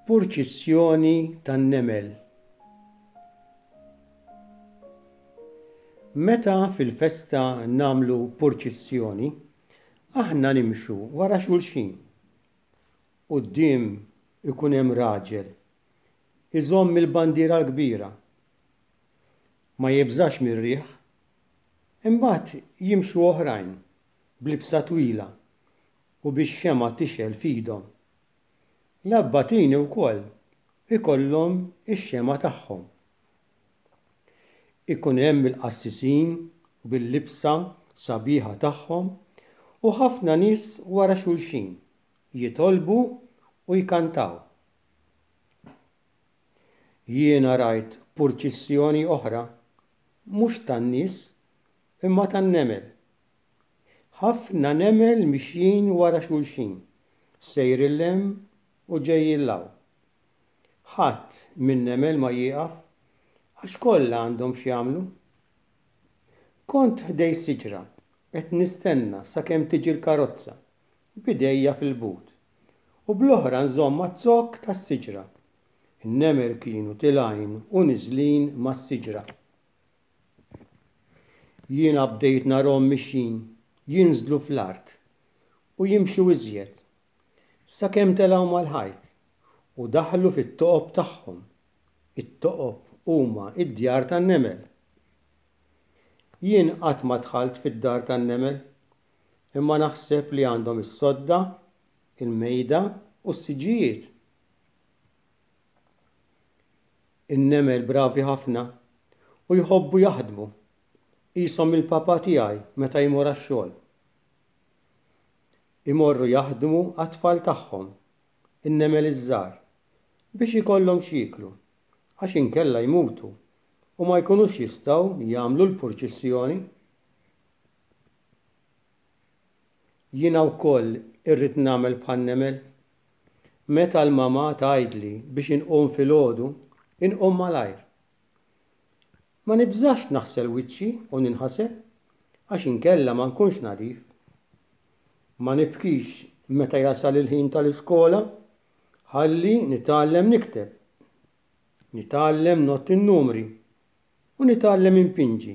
Purċissjoni tan-nemel Meta fil-festa nagħmlu purċissjoni, aħna nimxu wara xulxin. Quddiem ikun hemm raġel iżomm il-bandiera l-kbira ma jibżax mir-riħ, imbagħad jimxu oħrajn b'libsa twila u bix-xemgħa tixgħel f'idhom. L-abbatini wkoll ikollhom ix-xemgħa tagħhom. Ikun hemm il-qassisin bil-libsa sabiħa tagħhom u ħafna nies wara xulxin jitolbu u jkantaw. Jiena rajt purċissjoni oħra, mhux tan-nies, imma tan-nemel. Ħafna nemel mixjin wara xulxin, sejrin 'l hemm u ġejjin 'l hawn. Ħadd min-nemel ma jieqaf, għax kollha għandhom x'jagħmlu. Kont ħdej siġra qed nistenna sakemm tiġi l-karozza, b'idejja fil-but, u bl-oħra nżomm għaz-zokk tas-siġra. In-nemel kienu tilgħin u niżlin mas-siġra. Jiena bdejt narhom mixjin jinżlu fl-art u jimxu iżjed, sakemm telgħu mal-ħajt u daħlu fit-toqob tagħhom. It-toqob huma d-djar tan-nemel. Jien qatt ma dħalt fid-dar tan-nemel imma naħseb li għandhom is-sodda, il-mejda u s-siġġijiet. In-nemel bravi ħafna u jħobbu jaħdmu, qishom il-papa tiegħi meta jmur għax-xogħol. Imorru jaħdmu għat-tfal tagħhom, in-nemel iż-żgħar, biex ikollhom x'jieklu, għax inkella jmutu u ma jkunux jistgħu jagħmlu l-purċissjoni. Jiena wkoll irrid nagħmel bħan-nemel. Meta l-mamà tgħidli biex inqum filgħodu, inqum malajr. Ma nibżax naħsel wiċċi u ninħasel għax inkella ma nkunx nadif. Ma nibkix meta jasal il-ħin tal-iskola ħalli nitgħallem nikteb, nitgħallem ngħodd in-numri u nitgħallem inpinġi.